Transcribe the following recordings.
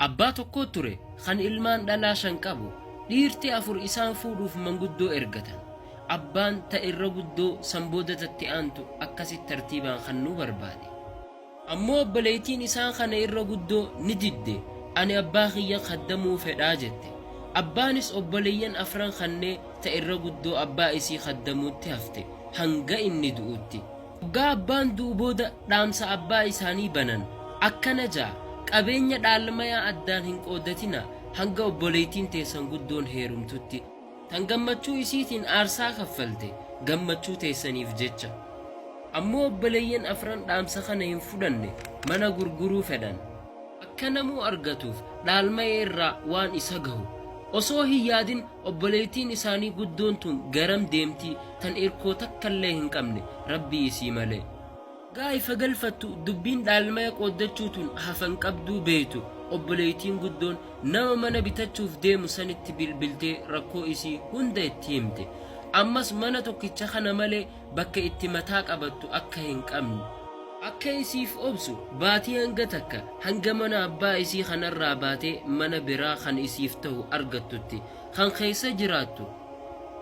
Abbaa tokkoo ture kan ilmaan dhalaa shan qabu. Dhiirti afur isaan fuudhuuf manguddoo ergatan. Abbaan ta irra guddoo san booda tatti aantu akkasitti tartiibaan kannuu barbaade. Ammoo obboleeytiin isaan kana irra guddoo ni didde, ani abbaa kiyya kaddamuu fedhaa jette. Abbaanis obboleeyyan afran kannee ta irra guddoo abbaa isii kaddamuutti hafte hanga inni du'utti. Oggaa abbaan du'u booda dhaamsa abbaa isaanii banan akkana ja'a, Qabeenya dhaalmayaa addaan hin qoodatinaa hanga obboleeytiin teessan guddoon heerumtutti, tan gammachuu isiitiin aarsaa kaffalte gammachuu teessaniif jecha. Ammoo obboleeyyan afran dhaamsa kana hin fudhanne, mana gurguruu fedhan. Akka namuu argatuuf dhaalmaya irraa waan isa gahu osoo hin yaadin Obboleeytiin isaanii guddoon tun garam deemtii tan irkoo takkallee hin qabne Rabbii isii malee. Gaayfa galfattu dubbiin dhaalmaya qooddachuu tun hafan qabduu beeytu obboleeytiin guddoon nama mana bitachuuf deemu sanitti bilbiltee rakkoo isii hunda itti himte. Ammas mana tokkicha kana malee Bakka itti mataa qabattu akka hin qabne. Akka isiif obsu, baatii hanga takka, hanga mana abbaa isii kanarraa baatee mana biraa kan isiif tahu argattutti, kan keessa jiraattu.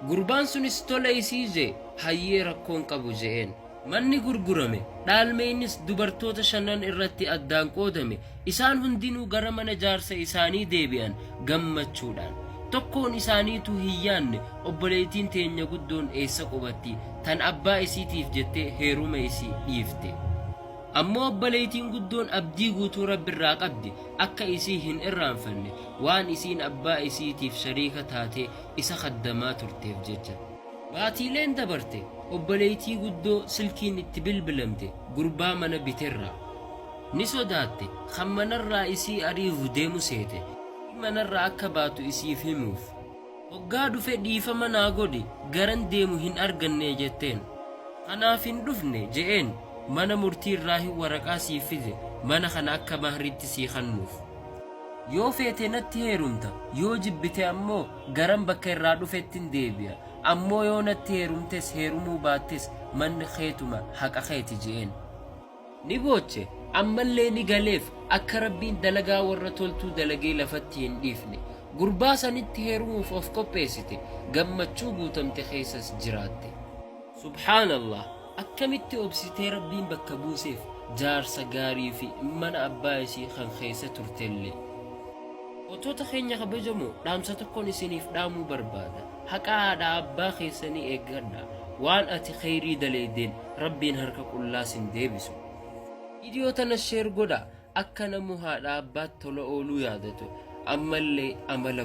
Gurbaan sunis tole isii je'e, hayyee rakkoo hin qabu je'een. Manni gurgurame, dhaalmeynis dubartoota shanan irratti addaan qoodame, Isaan hundinuu gara mana jaarsa isaanii deebi'an gammachuudhaan. Tokkoon isaaniituu hin yaanne obboleeytiin teenya guddoon eessa qubatti tan abbaa isiitiif jettee heeruma isii dhiifte. Ammoo obboleeytiin guddoon abdii guutuu Rabbi irraa qabdi akka isii hin irraanfanne waan isiin abbaa isiitiif shariika taatee isa khaddamaa turteef jecha. Baatiileen dabarte obboleeytii guddoo silkiin itti bilbilamte gurbaa mana biterraa. Ni sodaatte, kan manarraa isii arii'uuf deemu seete, Rabbi manarraa akka baatu isiif himuuf. Hoggaa dhufe dhiifama naa godhi, garan deemu hin arganne jetteen. Kanaaf hin dhufne, je'een, mana murtiirraahin waraqaa siif fide, mana kana akka mahriitti sii kannuuf. Yoo feete natti heerumta, yoo jibbite ammoo garan bakka irraa dhufettin deebi'a, ammoo yoo natti heerumtes heerumuu baattes manni keetuma haqa keeti je'een. ni booche, ammallee ni galeef, akka Rabbiin dalagaa warra toltuu dalagee lafatti hin dhiifne. Gurbaa sanitti heerumuuf of qopheessite, gammachuu guutamte keessas jiraatte. Subhaanallaah! Akkamitti obsitee Rabbiin bakka buuseef, jaarsa gaarii fi mana abbaa isii kan keessa turtellee. Otoota keenya kabajamoo, dhaamsa tokkon isiniif dhaamuu barbaada. Haqa haadha abbaa keessanii eeggadha. Waan ati kheeyrii daleeydeen Rabbiin harka qullaa sin deebisu. Video tana share godha akka namu haadha abbaat tola ooluu yaadatu ammallee amala godha.